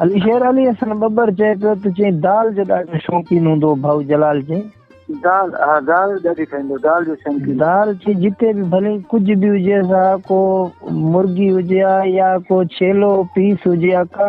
علي شير علي حسن ٻٻر چئي پيو ته چئين دال جو ڏاڍو شوقين هوندو هو ڀائو جلال چئين دال ها دال ڏاڍي کائيندو دال جو شوقين دال چي جتي به ڀلي ڪجهه به هجي سا ڪو مرغي هجي ها يا ڪو ڇيلو پيس هجي ها ڪا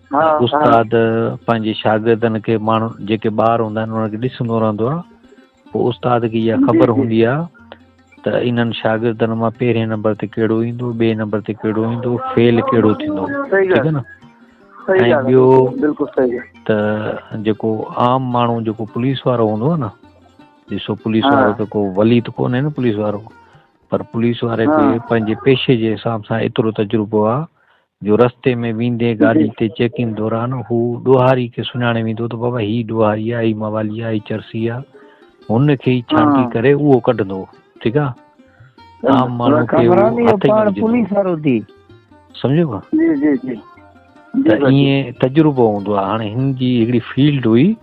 استاد پنهنجي شاگردن کي ماڻهو جيڪي ٻار هوندا آهن انهن کي ڏسندو رهندو آهي پوء استاد کي اها خبر هوندي آهي ته انهن شاگردن مان پهرين نمبر تي ڪهڙو ايندو ٻئي نمبر تي ڪهڙو ايندو فيل ڪهڙو ٿيندو ٺيڪ آهي نه ۽ ٻيو ته جيڪو عام ماڻهو جيڪو پوليس وارو هوندو آهي نه ڏسو پوليس وارو ته ڪو ولي ته ڪونهي نه پوليس وارو پر پوليس واري کي پنهنجي پيشي جي حساب سان ايترو تجربو آهي جو رستي ۾ ويندي گاڏي تي چيڪنگ دوران هو ڏوهاري کي سڃاڻي ويندو ته بابا هي ڏوهاري آهي هي موالي آهي هي چرسي آهي هن کي ئي ڇانٽي ڪري اهو ڪڍندو ٺيڪ آهي عام ماڻهو کي پاڻ پوليس وارو ٿي سمجهيو جي جي جي ته ائين تجربو هوندو آهي هاڻي هن جي هڪڙي فيلڊ هئي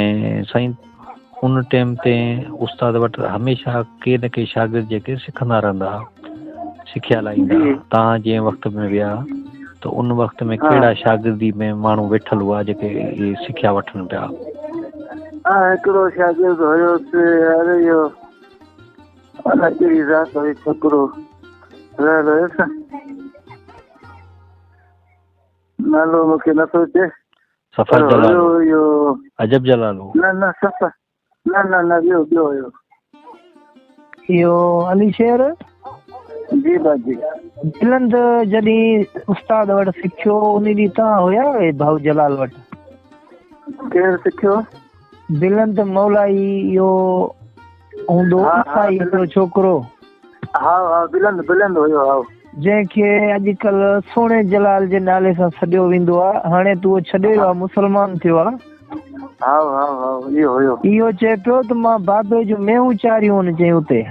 ۽ سائين ان ٽيم تي استاد وٽ هميشه ڪي نه ڪي شاگرد جيڪي سکندا رهندا سکيا لائيندا تان جي وقت ۾ ويا ته ان وقت ۾ ڪهڙا شاگردي ۾ ماڻهو ويٺل هئا جيڪي اهي سکيا وٺن پيا هڪڙو شاگرد هيو سي اري يو انا ڪهڙي ذات هي ڇڪرو رهل هيس نالو مونکي نه سوچي سفر جلال هو اهو عجب جلال هو نه نه سفر نه نه نه ٻيو ٻيو هيو اهو علي شير جي باجي بلند جڏي استاد وٽ سکيو انهي ڏينهن تان هيا اهي ڀائو جلال وٽ ڪير سکيو بلند مولائي يو هوندو اٿائي هڪڙو ڇوڪرو ها ها بلند بلند هيو ها جنهن کي اڄڪل سهڻي جلال جي نالي سان سڏيو ويندو آ هاڻي تو ڇڏي ويو مسلمان ٿيو آ ها ها ها يو هيو يو چي پيو ته مان بابي جو ميهون چاريون ان چي اتي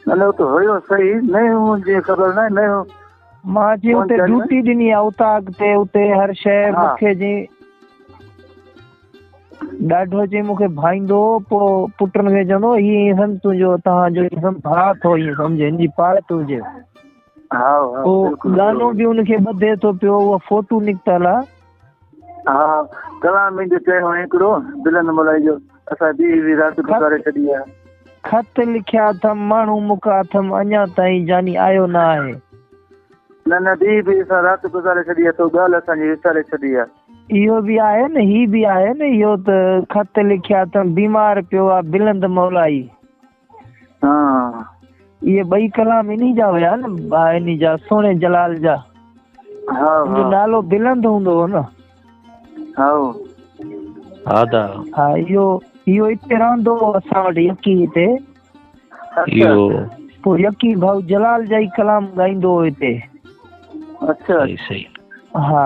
نه نه تو هيو صحيح نه هو جي خبر نه نه مان جي اتي ڊيوٽي ڏني آ اتان اڳتي اتي هر شي مون کي جي ڏاڍو جي مون کي ڀائيندو پو پٽن کي چوندو هي سم تنهنجو تهان جو سم ڀاء ٿو هي سمجهي ان جي پاڙ ٿو هجي ها ها گانو به ان کي ٻڌي ٿو پيو اها فوٽو نڪتل آ ها ڪلام مين جو چيو هڪڙو دلن ملائي جو اسا دي وي رات گذاري ڇڏي آ خط لکيا ٿم ماڻهو مکا ٿم اڃا تائين جاني آيو نه آهي نه نه دي وي اسا رات گذاري ڇڏي آ تو ڳال اسا جي وساري ڇڏي آ اهو به آهي نه هي به آهي نه اهو ته خط لکيا ٿم بيمار پيو آ بلند مولائي ها اهي ٻئي ڪلام انهي جا هيا نه انهي جا سهڻي جلال جا ها ها نالو بلند هوندو هو نه ها ها دا ها اهو اهو اتي رهندو هو اسان وٽ يڪي هتي اهو پو يڪي ڀاء جلال جا ڪلام ڳائيندو هو هتي اچھا صحيح ها